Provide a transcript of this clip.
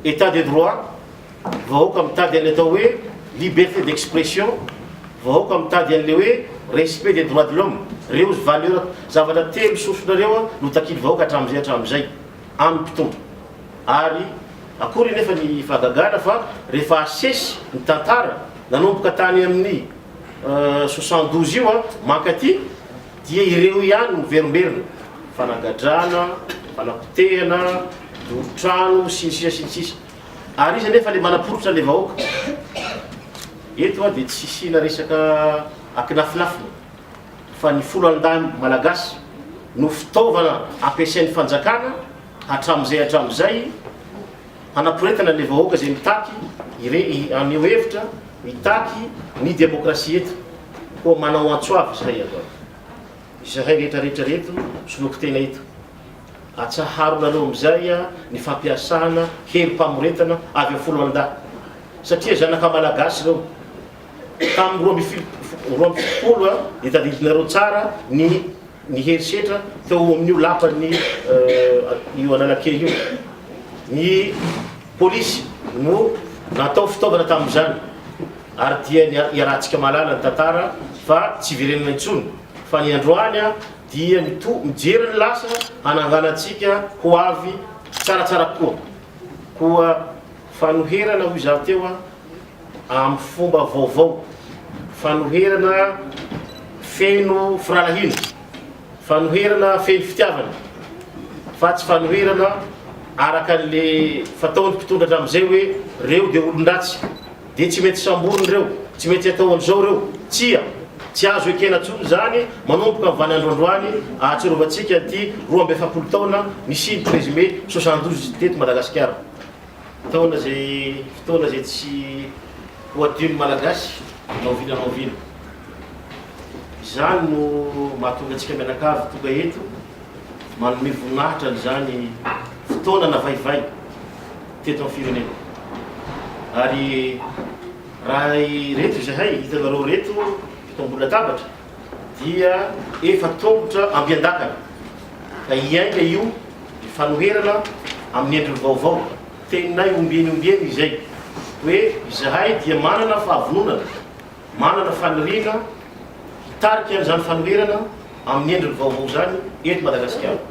Etat de droit, vahoaka mitady an'ilay atao hoe liberte d'expression, vahoaka mitady an'ilay hoe respect des droits de l'homme. Ireo valeur, zavatra telo sosona ireo no takian'ny vahoaka hatramin'izay hatramin'izay amin'ny mpitondra. Ary akory anefa ny fahagagana fa rehefa asesy ny tantara nanomboka tany amin'ny soixante douze io mankaty Dia ireo ihany no miverimberina, fanagadrana, fanapotehana, doro trano, sy ny sisa sy ny sisa. Ary iza anefa le manaporitra anle vahoaka? Eto a dia tsy hisiana resaka akinafinafina fa ny folo andahy malagasy no fitaovana ampiasain'ny fanjakana hatramzay hatramzay Hanaporetana ilay vahoaka izay mitaky ireny haneho hevitra, mitaky ny demokrasia eto. Koa manao antso avo izahay avy ato. Izahay rehetra rehetra ireto soloky tena eto. Atsaharonareo amin'izay ny fampiasana herim-pamoretana avy amin'ny foloalindahy. Satria zanaka malagasy ireo. tamin'ny roa ambin'ny fil- roa ambin'ny fitopolo a, dia tadidinareo tsara ny ny herisetra teo amin'io lapan'ny eh, io Analakely io. Ny polisy no natao fitaovana tamin'izany, ary dia ny a- iarahantsika mahalala ny tantara fa tsy verenana intsony, fa ny androany a, dia mito- mijery ny lasa hananganantsika ho avy tsaratsara kokoa. Koa fanoherana hoy izaho teo a, amin'ny fomba vaovao, fanoherana feno firahalahiana, fanoherana feno fitiavana fa tsy fanoherana araka an'le fataon'ny mpitondra hatramin'izay hoe reo dia olon-dratsy dia tsy mety samborina ireo, tsy mety atao an'izao ireo, tsia, tsy azo ekena intsony izany manomboka amin'vany androandroany ahatsiarovantsika an'ity roa amby efapolo taona nisian'ny présumé soixante douze teto Madagasikara. Fotoana izay fotoana izay tsy ho adinon'ny Malagasy na oviana na oviana. Izany no mahatonga antsika mianakavy tonga eto manome voninahitra an'izany fotoana navaivay teto amin'ny firenena. Ary raha ireto izahay hitanareo ireto eto ambony latabatra, dia efa tongotra ampiandakana ka hiainga io ny fanoherana amin'ny endriny vaovao. Teninay ombieny ombieny izay hoe izahay dia manana fahavononana, manana faniriana hitarika an'izany fanoherana amin'ny endriny vaovao izany eto Madagasikara.